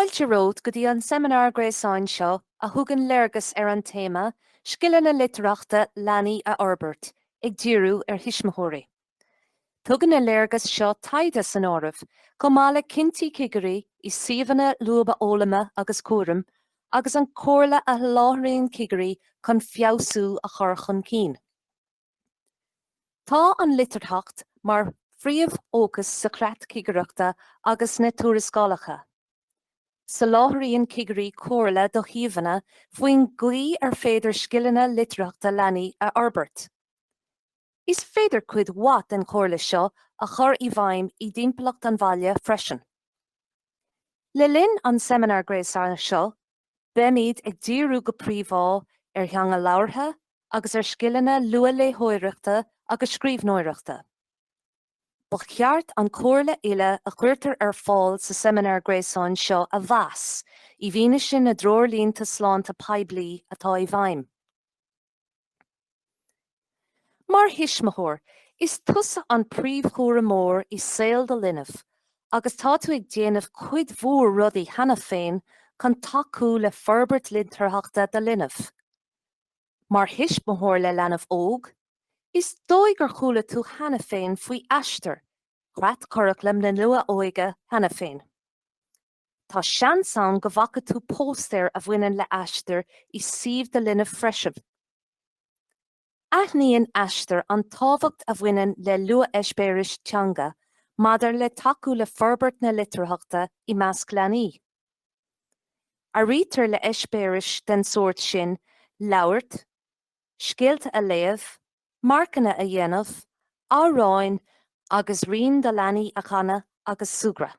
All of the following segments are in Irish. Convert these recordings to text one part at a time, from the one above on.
Fáilte romhat go dtí an seimineár gréasáin seo a thugann léargas ar an téama Scileanna Litearthachta Leanaí a Fhorbairt, ag díriú ar thuismitheoirí. Tugann na léargais seo taighde san áireamh, chomh maith le cinntí cigirí i suíomhanna luathfhoghlama agus cúraim, agus an comhairle a sholáthraíonn cigirí chun feabhsú a chur chun cinn. Tá an litearthacht mar phríomhfhócas sa chreat cigireachta agus sna tuarascálacha. Soláthraíonn cigirí comhairle do shuíomhanna faoin gcaoi ar féidir scileanna litearthachta leanaí a fhorbairt. Is féidir cuid mhaith den chomhairle seo a chur i bhfeidhm i dtimpeallacht an bhaile freisin. Le linn an tseimineáir gréasáin seo, beimid ag díriú go príomha ar theanga labhartha agus ar scileanna luathléitheoireachta agus scríbhneoireachta. Ba cheart an comhairle uile a chuirtear ar fáil sa seimineár gréasáin seo a mheas i bhfianaise na dtreoirlínte sláinte poiblí atá i bhfeidhm. Mar thuismitheoir, is tusa an príomhchúramóir i saol do linbh agus tá tú ag déanamh cuid mhór rudaí cheana féin chun tacú le forbairt litearthachta do linbh. Mar thuismitheoir le leanbh óg, is dóigh gur chuala tú cheana féin faoi Aistear, creat curaclaim na luath-óige cheana féin. Tá seans ann go bhfaca tú póstaer a bhaineann le Aistear i suíomh do linbh freisin. Aithníonn Aistear an tábhacht a bhaineann le luath-eispéiris teanga maidir le tacú le forbairt na litearthachta i measc leanaí. Áirítear le heispéiris den sórt sin labhairt, scéalta a léamh, marcanna a dhéanamh, amhráin agus rainn do leanaí a chanadh agus súgradh.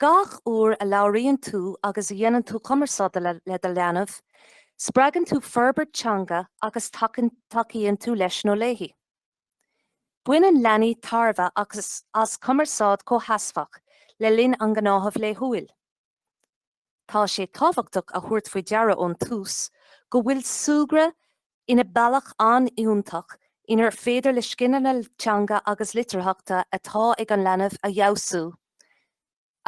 Gach uair a labhraíonn tú agus a dhéanann tú cumarsáid le do leanbh, spreagann tú forbairt teanga agus tacaíonn tú leis nó léi. Baineann leanaí tairbhe as cumarsáid chomhsheasmhach le linn a ngnáthamh laethúil. Tá sé tábhachtach a thabhairt faoi deara ón tús go bhfuil súgradh ina bealach an-iontach inar féidir le scileanna teanga agus litearthachta atá ag an leanbh a fheabhsú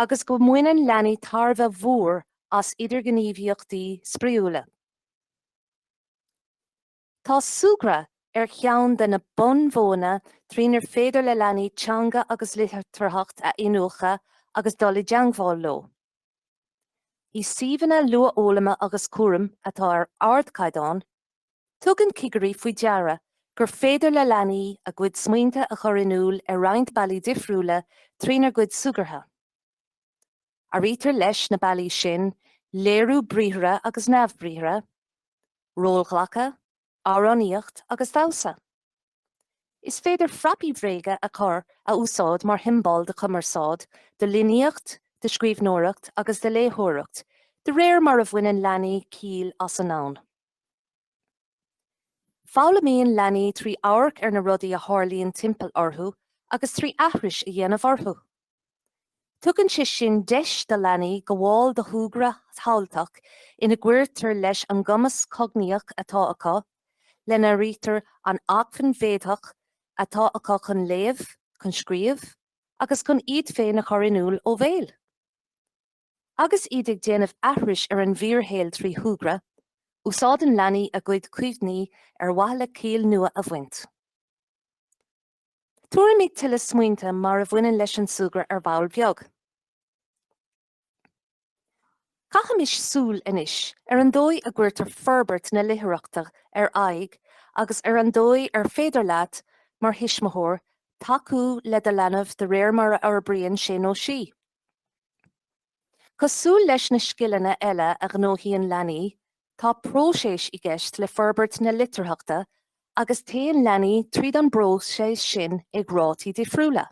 agus go mbaineann leanaí tairbhe mhór as idirghníomhaíochtaí spraíúla. Tá súgradh ar cheann de na bunmhodhanna trínar féidir le leanaí teanga agus litearthacht a iniúchadh agus dul i dteangmháil leo. I suíomhanna luathfhoghlama agus cúraim atá ar ardchaighdeán, tugann cigirí faoi deara gur féidir le leanaí a gcuid smaointe a chur in iúl ar roinnt bealaí difriúla trínar gcuid súgartha. Áirítear leis na bealaí sin léiriú briathartha agus neamhbriathartha, rólghlacadh, amhránaíocht agus damhsa. Is féidir frapaí bhréige a chur a úsáid mar shiombail de chumarsáid, de líníocht, de scríbhneoireacht agus de léitheoireacht de réir mar a bhaineann leanaí ciall as an domhan. Foghlaimíonn leanaí trí amharc ar na rudaí a tharlaíonn timpeall orthu agus trí aithris a dhéanamh orthu. Tugann sé sin deis do leanaí gabháil do shúgradh shamhaltach ina gcuirtear leis an gcumas cognaíoch atá acu, lena n-áirítear an acmhainn mhéadaitheach atá acu chun léamh, chun scríobh agus chun iad féin a chur in iúl ó bhéal. Agus iad ag déanamh aithris ar an bhfíorshaol trí shúgradh, úsáideann leanaí a gcuid cuimhní ar mhaithe le ciall nua a bhaint. Tabharfaimid tuilleadh smaointe mar a bhaineann leis an súgradh ar ball beag. Caithimis súil anois ar an dóigh a gcuirtear forbairt na litearthachta ar aghaidh agus ar an dóigh ar féidir leat, mar thuismitheoir, tacú le do leanbh de réir mar a fhorbraíonn sé nó sí. Cosúil leis na scileanna eile a ghnóthaíonn leanaí, tá próiseas i gceist le forbairt na litearthachta agus téann leanaí tríd an bpróiseas sin ag rátaí difriúla.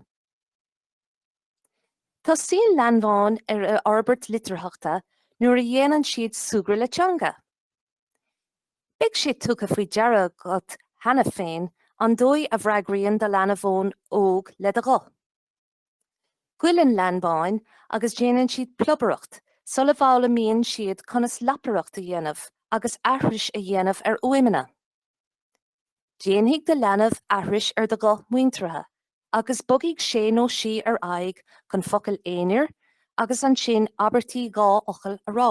Tosaíonn leanbáin ar fhorbairt litearthachta nuair a dhéanann siad súgradh le teanga. Beidh sé tugtha faoi deara agat cheana féin an dóigh a bhfreagraíonn do leanbán óg le do ghuth. Goileann leanbáin agus déanann siad plobaireacht sula bhfoghlaimíonn siad conas lapaireacht a dhéanamh agus aithris a dhéanamh ar fhuaimeanna. Déanfaidh do leanbh aithris ar do ghuth muinteartha agus bogfaidh sé nó sí ar aghaidh chun focail aonair agus ansin abairtí dhá fhocal a rá.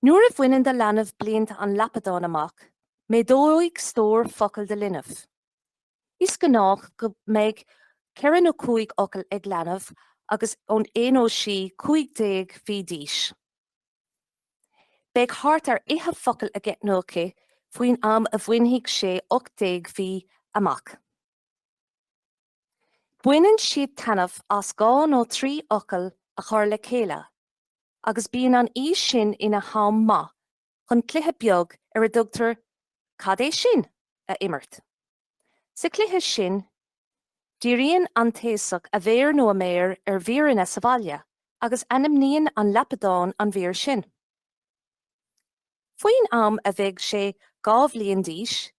Nuair a bhaineann do leanbh blianta an lapadáin amach, méadóidh stór focal do linbh. Is gnách go mbeidh ceithre nó cúig fhocal ag leanbh agus é nó sí 15 mhí d'aois. Beidh thart ar fhiche focal aige nó aici faoin am a bhainfidh sé 18 mhí amach. Baineann siad taitneamh as dhá nó trí fhocal a chur le chéile agus bíonn an aois sin ina ham maith chun cluiche beag ar a dtugtar 'Cad é sin? a imirt. Sa chluiche sin, díríonn an t-aosach a mhéar nó a méar ar mhíreanna sa bhaile agus ainmníonn an lapadán an mhír sin. Faoin am a bheidh sé dhá bhliain d'aois,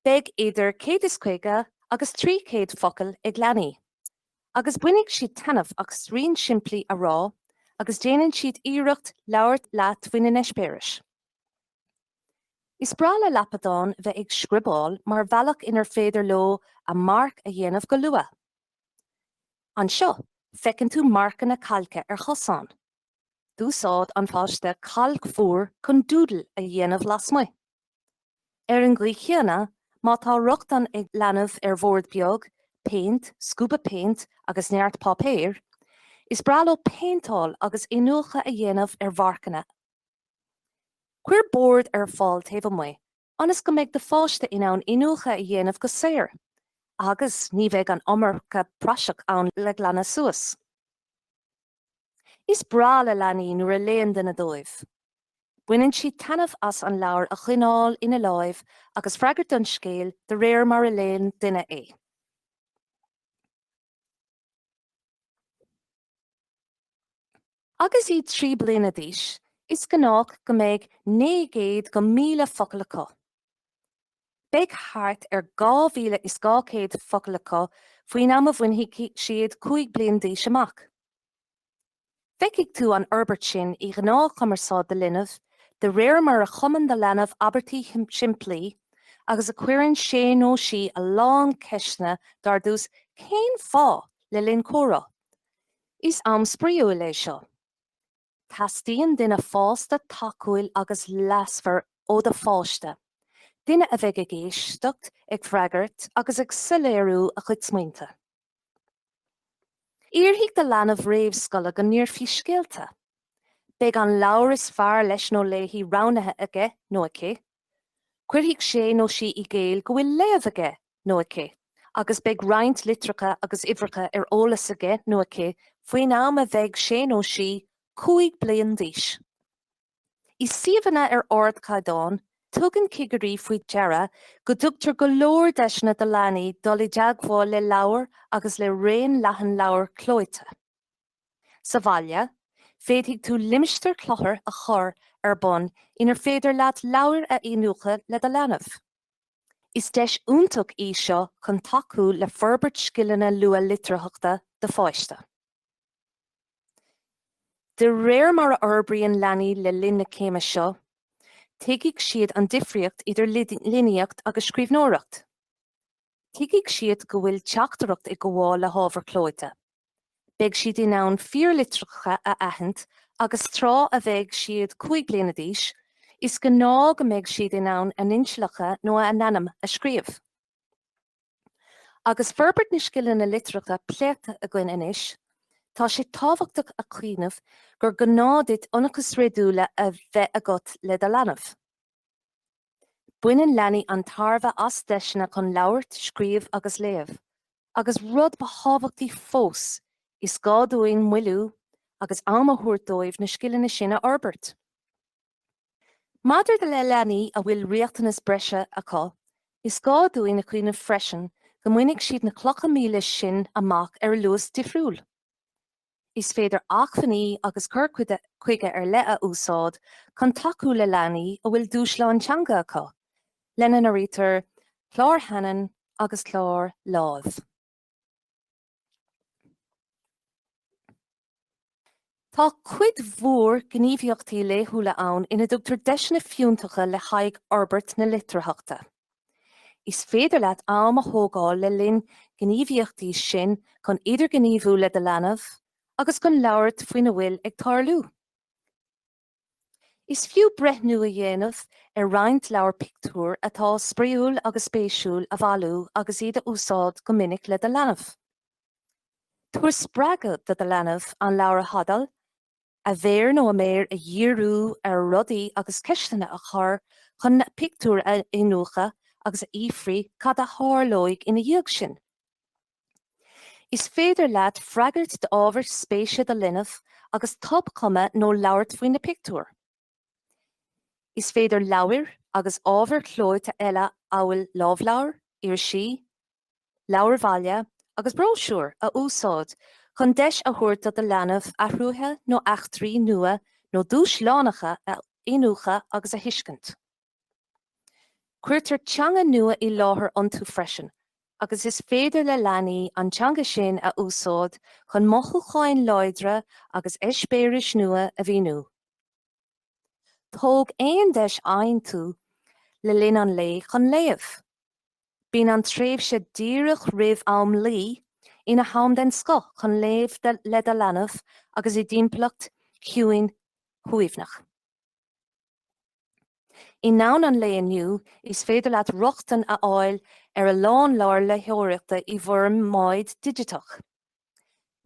Beidh idir 150 agus 300 focal ag leanaí, agus bainfidh siad taitneamh as rainn simplí a rá agus déanann siad iarracht labhairt leat faoina n-eispéiris. Is breá le lapadáin bheith ag scriobáil mar bhealach inar féidir leo a marc a dhéanamh go luath. Anseo, feiceann tú marcanna cailce ar chosán. D'úsáid an páiste cailc mhór chun doodle a dhéanamh lasmuigh. Ar an gcaoi chéanna, má tá rochtain ag leanbh ar bhord beag, péint, scuaba péint agus neart páipéir, is breá leo péinteáil agus iniúchadh a dhéanamh ar mharcanna. Cuir bord ar fáil taobh amuigh ionas go mbeidh do pháiste in ann iniúchadh a dhéanamh go saor agus ní bheidh an iomarca praiseach ann le glanadh suas. Is breá le leanaí nuair a léann duine dóibh. Baineann siad taitneamh as an leabhar a choinneáil ina láimh agus freagairt don scéal de réir mar a léann duine é. Agus iad trí bliana d'aois, is gnách go mbeidh 900 go 1000 focal acu. Beidh thart ar 2,200 focal acu faoin am a bhainfidh siad 5 bliain d'aois amach. Feicfidh tú an fhorbairt sin i ghnáthchumarsáid do linbh de réir mar a chumann do leanbh abairtí simplí agus a chuireann sé nó sí a lán ceisteanna dar tús 'Cén fáth? le linn comhrá. Is am spraoiúil é seo. Teastaíonn duine fásta, tacúil agus leasmhar ó do pháiste, duine a bheidh ag éisteacht, ag freagairt agus ag soiléiriú a chuid smaointe. Iarrfaidh do leanbh réamhscoile go n-inseofaí scéalta. Beidh an leabhar is fearr leis nó léi roghnaithe aige nó aici. Cuirfidh sé nó sí i gcéill go bhfuil léamh aige nó aici, agus beidh roinnt litreacha agus uimhreacha ar eolas aige nó aici faoin am a bheidh sé nó sí cúig bliain d'aois. I suíomhanna ar ardchaighdeán, tugann cigirí faoi deara go dtugtar go leor deiseanna do leanaí dul i dteagmháil le leabhair agus le raon leathan leabhar clóite. Sa bhaile, féadfaidh tú limistéar cluthar a chur ar bun inar féidir leat leabhair a iniúchadh le do leanbh. Is deis iontach í seo chun tacú le forbairt scileanna luath-litearthachta do pháiste. De réir mar a fhorbraíonn leanaí le linn na céime seo, tuigfidh siad an difríocht idir líníocht agus scríbhneoireacht. Tuigfidh siad go bhfuil teachtaireacht ag gabháil le hábhar clóite. Beidh siad in ann fíorlitreacha a aithint agus tráth a bheidh siad cúig bliana d'aois, is gnáth go mbeidh siad in ann a n-inisealacha nó a n-ainm a scríobh. Agus forbairt na scileanna litearthachta pléite againn anois, tá sé tábhachtach a chuimhneamh gur gá duit ionchais réadúla a bheith agat le do leanbh. Baineann leanaí an-tairbhe as deiseanna chun labhairt, scríobh agus léamh, agus rud ba thábhachtaí fós, is gá dúinn moilliú agus am a thabhairt dóibh na scileanna sin a fhorbairt. Maidir le leanaí a bhfuil riachtanais bhreise acu, is gá dúinn a chuimhneamh freisin go mbainfidh siad na clocha míle sin amach ar luas difriúil. Is féidir acmhainní agus cur chuige ar leith a úsáid chun tacú le leanaí a bhfuil dúshláin teanga acu, lena n-áirítear clár Hanen agus clár Lámh. Tá cuid mhór gníomhaíochtaí laethúla ann ina dtugtar deiseanna fiúntacha le haghaidh fhorbairt na litearthachta. Is féidir leat am a thógáil le linn na ngníomhaíochtaí sin chun idirghníomhú le do leanbh agus chun labhairt faoina bhfuil ag tarlú. Is fiú breithniú a dhéanamh ar roinnt leabhar pictiúr atá spraíúil agus spéisiúil a bhailiú agus iad a úsáid go minic le do leanbh. Tabhair spreagadh do do leanbh an leabhar a thadhall a mhéar nó a méar a dhíriú ar rudaí agus ceisteanna a chur chun na pictiúir a iniúchadh agus a fhiafraí cad a tharlóidh ina dhiaidh sin. Is féidir leat freagairt d'ábhar spéise do linbh agus tobchumadh nó labhairt faoi na pictiúir. Is féidir leabhair agus ábhar clóite eile amhail lámhleabhair, irisí, leabhair bhaile agus bróisiúir a úsáid chun deis a thabhairt do do leanbh athruithe nó eachtraí nua nó dúshlánacha a iniúchadh agus a thuiscint. Cuirtear teanga nua i láthair iontu freisin agus is féidir le leanaí an teanga sin a úsáid chun mothúcháin láidre agus eispéiris nua a mhíniú. Tóg aon deis a fhaigheann tú le linn an lae chun léamh. Bíonn an tréimhse díreach roimh am luí ina ham den scoth chun léamh le do leanbh agus i dtimpeallacht chiúin shuaimhneach. I ndomhan an lae inniu, is féidir leat rochtain a fháil ar a lán leabhar léitheoireachta i bhformáid digiteach.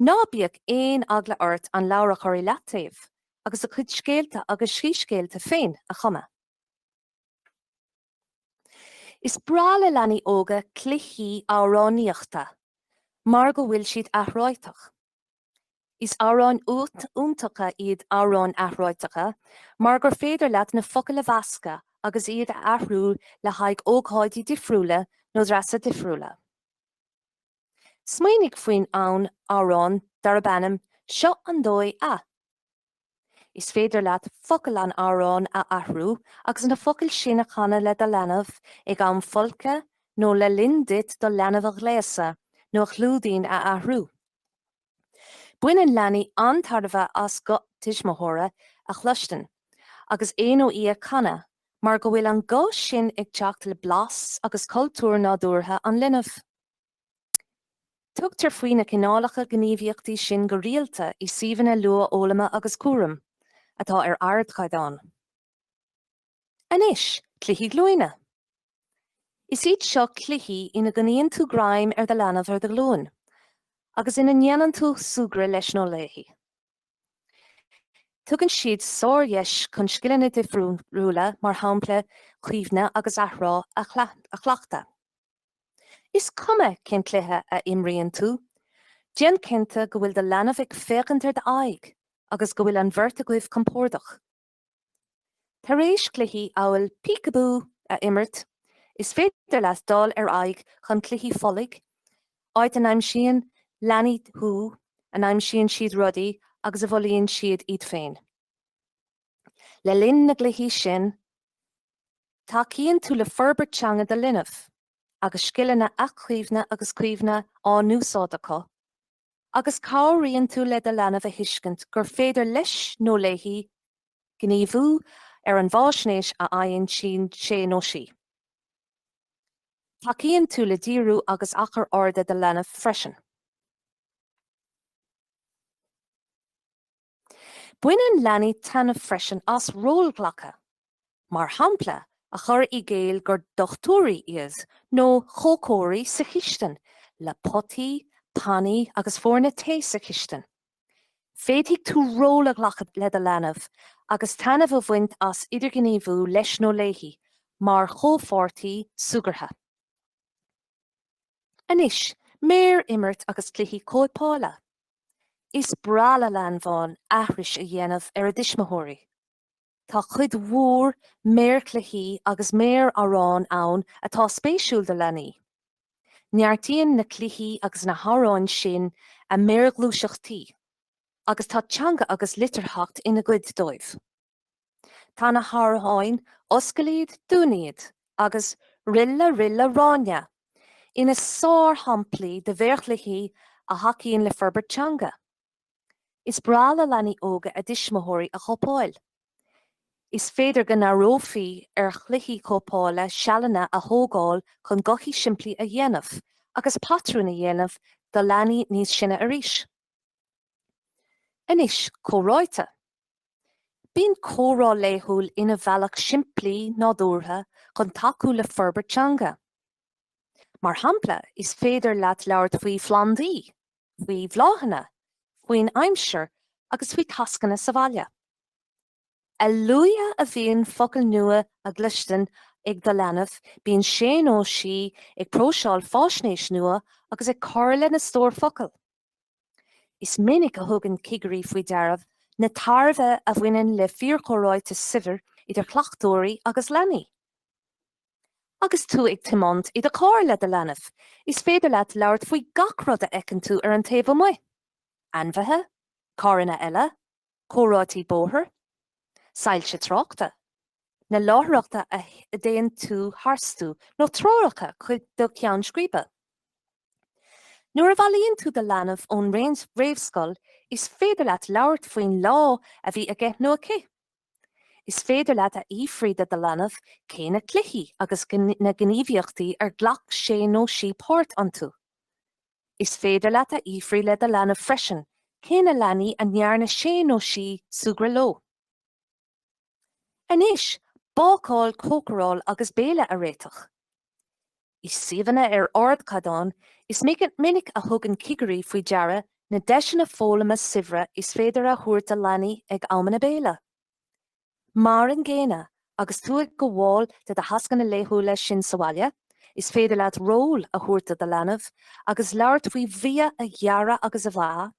Ná bíodh aon eagla ort an leabhar a chur i leataobh agus do chuid scéalta agus síscéalta féin a chumadh. Is breá le leanaí óga cluichí amhránaíochta mar go bhfuil siad athráiteach. Is amhráin iontacha iad amhráin athráiteacha mar gur féidir leat na focail a mheascadh agus iad a athrú le haghaidh ócáidí difriúla nó dreasa difriúla. Smaoinigh faoin amhrán darb ainm 'Seo an Dóigh a. Is féidir leat focail an amhráin a athrú agus na focail sin a chanadh le do leanbh ag am folctha nó le linn duit do leanbh a ghléasadh nó a chlúidín a athrú. Baineann leanaí an-tairbhe as guth tuismitheora a chluinstin agus é nó í ag canadh mar go bhfuil an guth sin ag teacht le blas agus cultúr nádúrtha an linbh. Tugtar faoi na cineálacha gníomhaíochtaí sin go rialta i suíomhanna luathfhoghlama agus cúraim, atá ar ardchaighdeán. Anois, cluichí glúine. Is iad seo cluichí ina gcoinníonn tú greim ar do leanbh ar do ghlúin, agus ina ndéanann tú súgradh leis nó léi. Tugann siad sárdheis chun scileanna difriúla, mar shampla cuimhne agus athrá, a chleachtadh. Is cuma cén cluiche a imríonn tú, déan cinnte go bhfuil do leanbh ag féachaint ar d'aghaidh agus go bhfuil an bheirt agaibh compordach. Tar éis cluichí amhail Peek-a-Boo a imirt, is féidir leat dul ar aghaidh chuig cluichí folaigh, áit a n-aimsíonn leanaí thú, a n-aimsíonn siad rudaí agus a bhfolaíonn siad iad féin. Le linn na gcluichí sin, tacaíonn tú le forbairt teanga do linbh, agus scileanna athchuimhne agus cuimhne á n-úsáid acu, agus cabhraíonn tú le do leanbh a thuiscint gur féidir leis nó léi gníomhú ar an fhaisnéis a fhaigheann sé nó sí. Tacaíonn tú le díriú agus achar airde do linbh freisin. Baineann leanaí taitneamh freisin as rólghlacadh, mar shampla a chur i gcéill gur dochtúirí iad nó cócairí sa chistin le potaí, pannaí agus foirne tae sa chistin. Féadfaidh tú ról a ghlacadh le do leanbh agus taitneamh a bhaint as idirghníomhú leis nó léi mar chomhpháirtí súgartha. Anois, méarimirt agus cluichí cóipeála. Is breá le leanbháin aithris a dhéanamh ar a dtuismitheoirí. Tá cuid mhór méarchluichí agus méar-amhrán ann atá spéisiúil do leanaí. Neartaíonn na cluichí agus na hamhráin sin a méarghluaiseachtaí agus tá teanga agus litearthacht ina gcuid dóibh. Tá na hamhráin Oscail iad, Dún iad agus Ril a Ril a Ráinne ina sárshamplaí de mhéarchluichí a thacaíonn le forbairt teanga. Is breá le leanaí óga a dtuismitheoirí a chóipeáil. Is féidir go n-áireofaí ar chluichí cóipeála sealanna a thógáil chun gothaí simplí a dhéanamh agus patrúin a dhéanamh do leanaí níos sine arís. Anois, comhráite. Bíonn comhrá laethúil ina bhealach simplí, nádúrtha chun tacú le forbairt teanga. Mar shampla, is féidir leat labhairt faoi phlandaí, faoi bhláthanna, faoin aimsir agus faoi tascanna sa bhaile. A luaithe a bhíonn focail nua á gcluinstin ag do leanbh, bíonn sé nó sí ag próiseáil faisnéis nua agus ag cur lena stór focal. Is minic a thugann cigirí faoi deara na tairbhe a bhaineann le fíorchomhráite saibhir idir cleachtóirí agus leanaí. Agus tú ag tiomáint i do charr le do leanbh, is féidir leat labhairt faoi gach rud a fheiceann tú ar an taobh amuigh, ainmhithe, carranna eile, comharthaí bóthair, soilse tráchta, na láithreacha a dtéann tú tharstu nó treoracha chuig do cheann scríbe. Nuair a bhailíonn tú do leanbh ón réamhscoil is féidir leat labhairt faoin lá a bhí aige nó aici. Is féidir leat a fhiafraí de do leanbh cé na cluichí agus na gníomhaíochtaí ar ghlac sé nó sí páirt iontu. Is féidir leat a fhiafraí le do leanbh freisin cé na leanaí a ndearna sé nó sí súgradh leo. Anois, bácáil, cócaráil agus béile a réiteach. I suíomhanna ar ardchaighdeán, is minic a thugann cigirí faoi deara na deiseanna foghlama saibhre is féidir a thabhairt do leanaí ag amanna béile. Mar an gcéanna, agus tú ag gabháil de do thascanna laethúla sin sa bhaile, is féidir leat ról a thabhairt do do leanbh agus labhairt faoi bhia a ghearradh agus a mheá,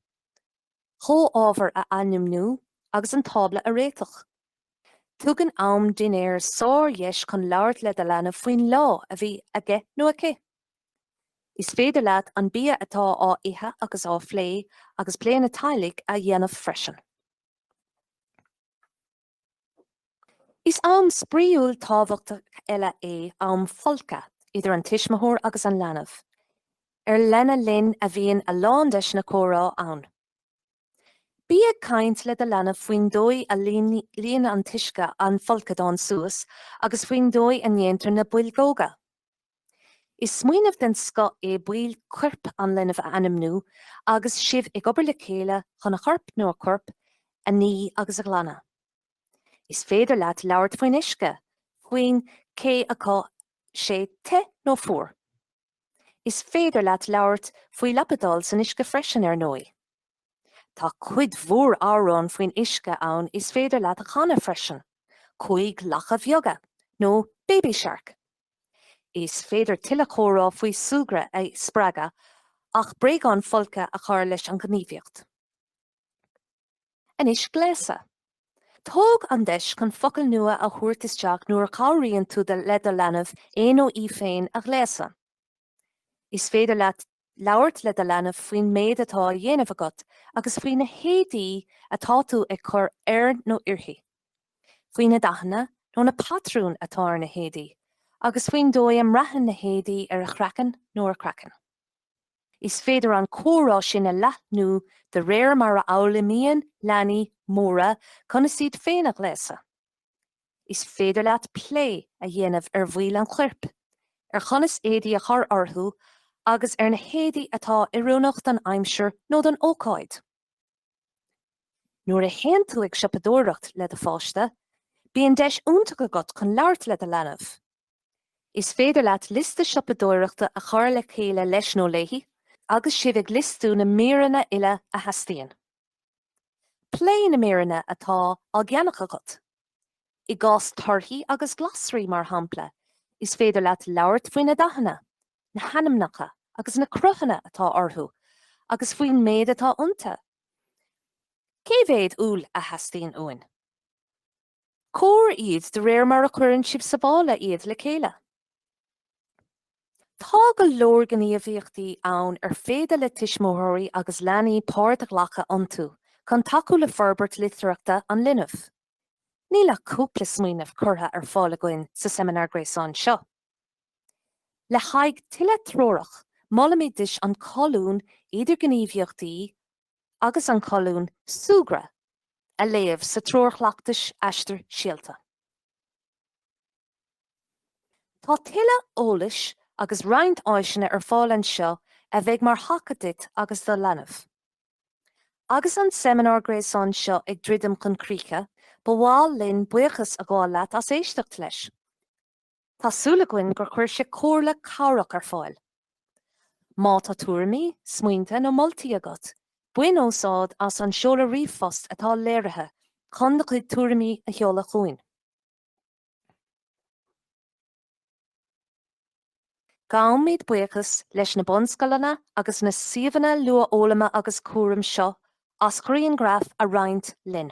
comhábhair a ainmniú agus an tábla a réiteach. Tugann am dinnéir sárdheis chun labhairt le do leanbh faoin lá a bhí aige nó aici. Is féidir leat an bia atá á ithe agus á phlé agus pleananna teaghlaigh a dhéanamh freisin. Is am spraíúil tábhachtach eile é am folctha idir an tuismitheoir agus an leanbh, ar lena linn a bhíonn a lán deiseanna comhrá ann. Bí ag caint le do leanbh faoin dóigh a líonann an t-uisce an folcadán suas agus faoin dóigh a ndéantar na boilgeoga. Is smaoineamh den scoth é baill coirp an linbh a ainmniú agus sibh ag obair le chéile chun a chorp nó a corp a ní agus a ghlanadh. Is féidir leat labhairt faoin uisce, faoin cé acu sé te nó fuar. Is féidir leat labhairt faoi lapadáil san uisce freisin, ar ndóigh. Tá cuid mhór amhrán faoin uisce ann is féidir leat a chanadh freisin, Cúig Lacha Bheaga nó Baby Shark. Is féidir tuilleadh comhrá faoi súgradh a spreagadh ach bréagáin folctha a chur leis an ghníomhaíocht. Anois gléasadh. Tóg an deis chun focail nua a thabhairt isteach nuair a chabhraíonn tú le do leanbh é nó í féin a ghléasadh. Is féidir leat labhairt le do leanbh faoin méid atá á dhéanamh agat agus faoi na héadaí atá tú ag cur air nó uirthi, faoi na dathanna nó na patrúin atá ar na héadaí, agus faoin dóigh a mbraitheann na héadaí ar a chraiceann nó a craiceann. Is féidir an comhrá sin a leathnú de réir mar a fhoghlaimíonn leanaí móra conas iad féin a ghléasadh. Is féidir leat plé a dhéanamh ar bhaill an choirp, ar chonas éadaí a chur orthu agus ar na héadaí atá oiriúnach don aimsir nó don ócáid. Nuair a théann tú ag siopadóireacht le do pháiste, bíonn deis iontach agat chun labhairt le do leanbh. Is féidir leat liosta siopadóireachta a chur le chéile leis nó léi agus sibh ag liostú na míreanna uile a theastaíonn. Pléigh na míreanna atá á gceannach agat. I gcás torthaí agus glasraí, mar shampla, is féidir leat labhairt faoi na dathanna, na hainmneacha agus na cruthanna atá orthu agus faoin méid atá iontu. Cé mhéad úll a theastaíonn uainn? Comhair iad de réir mar a chuireann sibh sa mhála iad le chéile. Tá go leor gníomhaíochtaí ann ar féidir le tuismitheoirí agus leanaí páirt a ghlacadh iontu chun tacú le forbairt litearthachta an linbh. Níl ach cúpla smaoineamh curtha ar fáil againn sa seimineár gréasáin seo. Le haghaidh tuilleadh treorach, molaimid duit an colún 'Idirghníomhaíochtaí, agus an colún 'Súgradh' a léamh sa Treoir Chleachtais Aistir Síolta. Tá tuilleadh eolais agus roinnt áiseanna ar fáil anseo a bheidh mar thaca duit agus do leanbh. Agus an seimineár gréasáin seo ag druidim chun críche, ba mhaith linn buíochas a ghabháil leat as éisteacht leis. Tá súil againn gur chuir sé comhairle cabhrach ar fáil. Má tá tuairimí, smaointe nó moltaí agat, bain úsáid as an seoladh ríomhphost atá léirithe chun do chuid tuairimí a sheoladh chugainn. Gabhaimid buíochas leis na bunscoileanna agus na suíomhanna luathfhoghlama agus cúraim seo as ghrianghraif a roinnt linn.